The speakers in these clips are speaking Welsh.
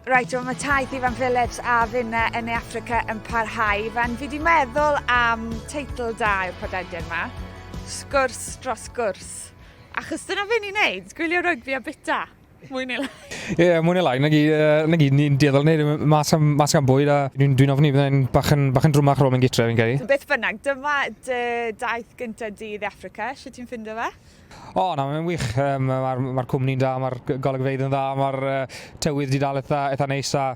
Reit, wel mae taith Ifan Phillips a finna yn ei Africa yn parhau. Ifan, fi di meddwl am teitl da i'r podlediad yma. Sgwrs dros gwrs. Achos dyna fe ni'n neud, gwylio rygbi a bita. Mwy neu lai. Ie, yeah, mwy neu lai. Na gyd, uh, na gyd ni'n dueddol wneud mas am, mas am bwyd a dwi'n dwi ofni byddai'n bach yn, bach yn drwmach rôl mewn gytre, fi'n cael ei. Beth bynnag, dyma dy daith gyntaf di i Africa, sio ti'n ffindo fe? O, na, mae'n wych. Um, Mae'r ma cwmni'n da, mae'r golygfeydd yn dda, mae'r uh, tywydd wedi dal eitha, eitha neis a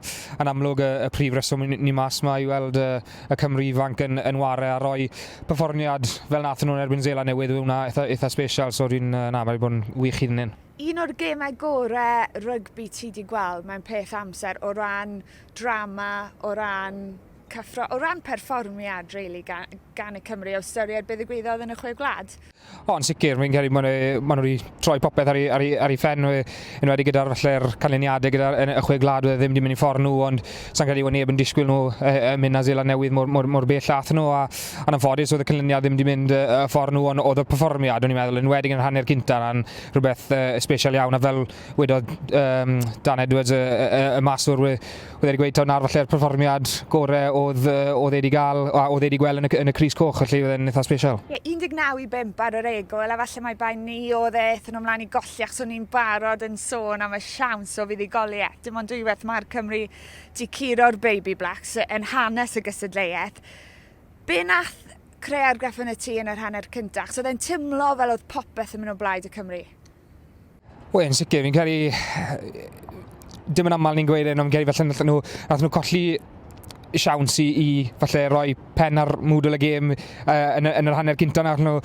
yn amlwg y, y prif reswm ni mas yma i weld uh, y Cymru ifanc yn, yn ware a roi perfformiad fel nath nhw'n erbyn Zela newydd yw hwnna eitha, eitha special, so dwi'n, uh, na, mae'n bod yn wych iddyn nhw'n. Un o'r gemau gorau rygbi ti wedi gweld mewn peth amser o ran drama, o ran cyffro o ran perfformiad really gan, gan y Cymru o ystyried be ddigwyddodd yn y Chwe Gwlad. O, yn sicr, fi'n credu maen nhw, maen nhw wedi troi popeth ar ei, ar ei, ar ei ffen, yn wedi gyda'r falle'r canlyniadau gyda'r y chwe gwlad oedd e ddim wedi mynd i ffordd nhw, ond sa'n credu bod neb yn disgwyl nhw y, y mynd na Zeland Newydd mor, mor, mor bell ath nhw, a, a'n anffodus oedd y canlyniad ddim wedi mynd y, y ffordd nhw, ond oedd y perfformiad, o'n i'n meddwl, yn wedi yn rhannu'r cynta, na'n rhywbeth uh, special iawn, a fel wedodd um, Dan Edwards, y, y, y maswr, oedd wedi gweud taw na'r falle'r perfformiad gore oedd, oedd wedi gael, a oedd wedi gweld yn y, yn y Cris Coch, felly oedd e'n eitha special. Ie, yeah, 19 i 5 ar yr egol, a falle mae bai ni oedd e ethon nhw mlaen i golli, achos o'n ni'n barod yn sôn am y siawns o fuddugoliaeth. Dim ond dwywaith mae'r Cymru di curo'r Baby Blacks yn hanes y gysadleuaeth. Be nath creu argraff yn y tŷ yn yr hanner cyntaf? Achos oedd e'n tymlo fel oedd popeth yn mynd o blaid y Cymru. Wel, yn sicr, fi'n credu... Dim yn aml ni'n gweud hyn, ond fi'n credu falle nath nhw, nath nhw colli siawns i, i falle roi pen ar mwdl y gêm uh, yn, yn yr hanner cynta nath nhw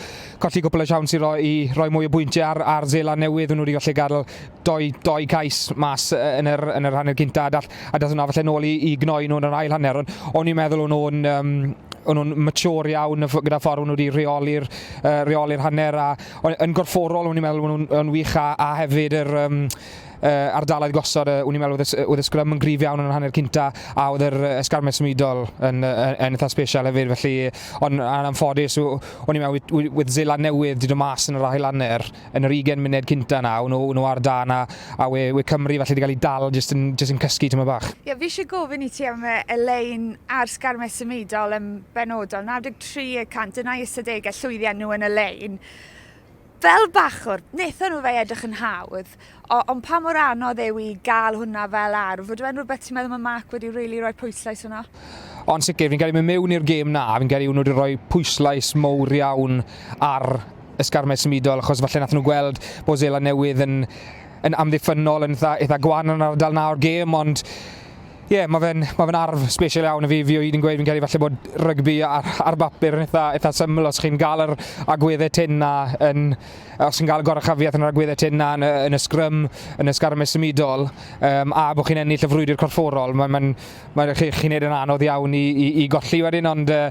colli gwbl o siawns i roi, i roi mwy o bwyntiau ar, ar Zela newydd nhw wedi gallu gadael doi, doi cais mas yn yr, yn yr hanner cynta a dall, a dall hwnna falle nôl i, i gnoi nhw yn yr ail hanner ond o'n i'n meddwl o'n nhw'n um, o'n nhw'n mature iawn gyda ffordd o'n nhw wedi rheoli'r uh, reoli hanner a yn gorfforol, o'n i'n meddwl, o'n nhw'n wych, a, a hefyd yr um, uh, ardalaeth gosod, uh, o'n i'n meddwl oedd y sgrym yn grif iawn yn yr hanner cynta, a oedd yr esgarmedd symudol yn, yn, yn eitha special hefyd, felly, ond anffodus, o'n i'n meddwl, with, with Zela newydd, dyd o mas yn yr ahel anner, yn yr 20 munud cynta na, o'n nhw ar dan, a, a we, we Cymru felly wedi cael ei dal jyst yn, just yn cysgu tyma bach. Ie, yeah, fi eisiau gofyn i ti am Elaine a'r sgarmedd symudol yn benodol, 93 300 yn eu ystadegau llwyddiant nhw yn y lein. Fel bachwr, wnaethon nhw fe edrych yn hawdd, ond pa mor anodd yw i gael hwnna fel arf? Ydw e'n rhywbeth ti'n meddwl mae Mark wedi rili really rhoi pwyslais yno? Ond sicr, fi'n cael ei mynd mewn i'r gêm na, fi'n cael ei nhw wedi rhoi pwyslais mowr iawn ar ysgarmed symudol, achos falle nath nhw gweld bod Zela Newydd yn yn amddiffynnol yn eitha, eitha gwan yn yr ardal na o'r gêm, ond Ie, yeah, mae fe'n ma fe arf special iawn i fi. Fi o hyd yn gweud fi'n cael ei falle bod rygbi ar, ar bapur yn eitha, eitha syml. Os chi'n gael yr agweddau tyn na, yn, os chi'n cael y gorachafiaeth yn yr agweddau tyn na yn, yn y sgrym, yn y sgarmes symudol, um, a bod chi'n ennill y frwydr corfforol, mae'n ma, ma, ma, chi, chi wneud yn anodd iawn i, i, i golli wedyn, ond uh,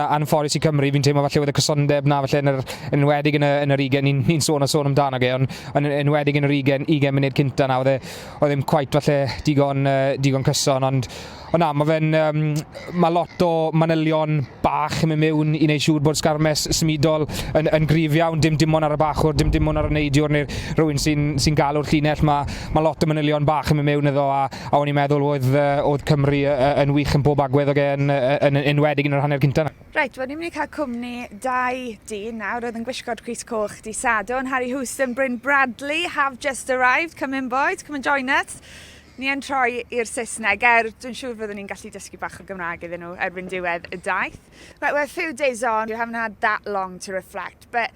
anffodus i Cymru, fi'n teimlo falle oedd y cysondeb na falle yn yr enwedig yn, y, yn yr ugen, ni'n ni sôn a sôn amdano ge, ond yn enwedig yn yr ugen, ugen munud cynta na, oedd e, oedd ddim cweit falle digon, uh, digon cyson, ond o na, mae fe'n, um, mae lot o manylion bach yn mynd mewn i wneud siŵr bod sgarmes symudol yn, yn grif iawn, dim dim ond ar y bachwr, dim dim ond ar y neidiwr neu'r rhywun sy'n sy galw'r llinell, mae, mae lot o manylion bach yn mynd mewn iddo a, a o'n i'n meddwl oedd, uh, oedd Cymru uh, yn wych yn bob agwedd o gen, uh, yn, yn enwedig yn yr hanner cyntaf. Reit, wel ni'n mynd i cael cwmni dau dyn nawr oedd yn gwisgo'r crys coch di Sadwrn, Harry Houston, Bryn Bradley, have just arrived, come in boys, come and join us. Ni yn troi i'r Saesneg, er dwi'n siŵr fyddwn ni'n gallu dysgu bach o Gymraeg iddyn nhw erbyn diwedd y daith. Right, we're a few days on, you haven't had that long to reflect, but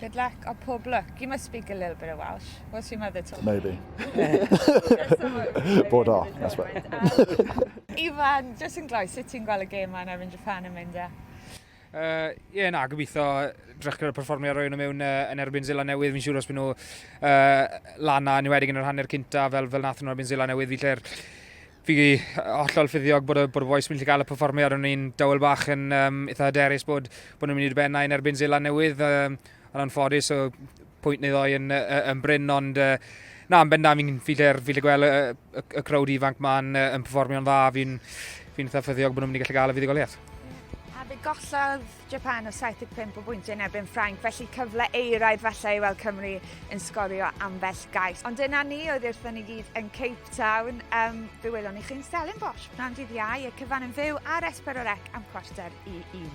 Good luck, a pob lwc. You must speak a little bit of Welsh. What's your mother talking? Maybe. Bod o, that's what. Ifan, just yn gloi, sut ti'n gweld y gêm yma yn erbyn Japan yn mynd e? Ie, uh, yeah, na, gobeithio drech gyda'r perfformio roi nhw mewn uh, yn erbyn Zila Newydd. Fi'n siŵr os byd nhw uh, lana, niwedig yn yr hanner cynta, fel, fel nath nhw erbyn Zila Newydd, fi lle'r Fi hollol ffyddiog bod y, bod y boys mynd i gael y performiad. O'n i'n dawel bach yn um, eitha hyderus bod, bod nhw'n mynd i benna yn erbyn Zeland Newydd. Um, yn anffodus, so pwynt neu ddoi yn, yn bryn, ond uh, na, yn benda, fi'n fi lle'r fi gweld y, y, y crowd ifanc ma'n uh, yn performio'n dda. Fi'n fi eitha ffyddiog bod nhw'n mynd i gallu gael y fuddugoliaeth. A fe gollodd Ffrainc, Japan o 75 o bwyntiau yn erbyn Ffrainc, felly cyfle eiraidd falle i weld Cymru yn sgorio ambell gais. Ond dyna ni, oedd wrthyn ni gyd yn Cape Town. Um, fe welon ni chi'n Stellenbosch, pnawn dydd iau, y cyfan yn fyw ar Esper o'r Ec am chwarter i un.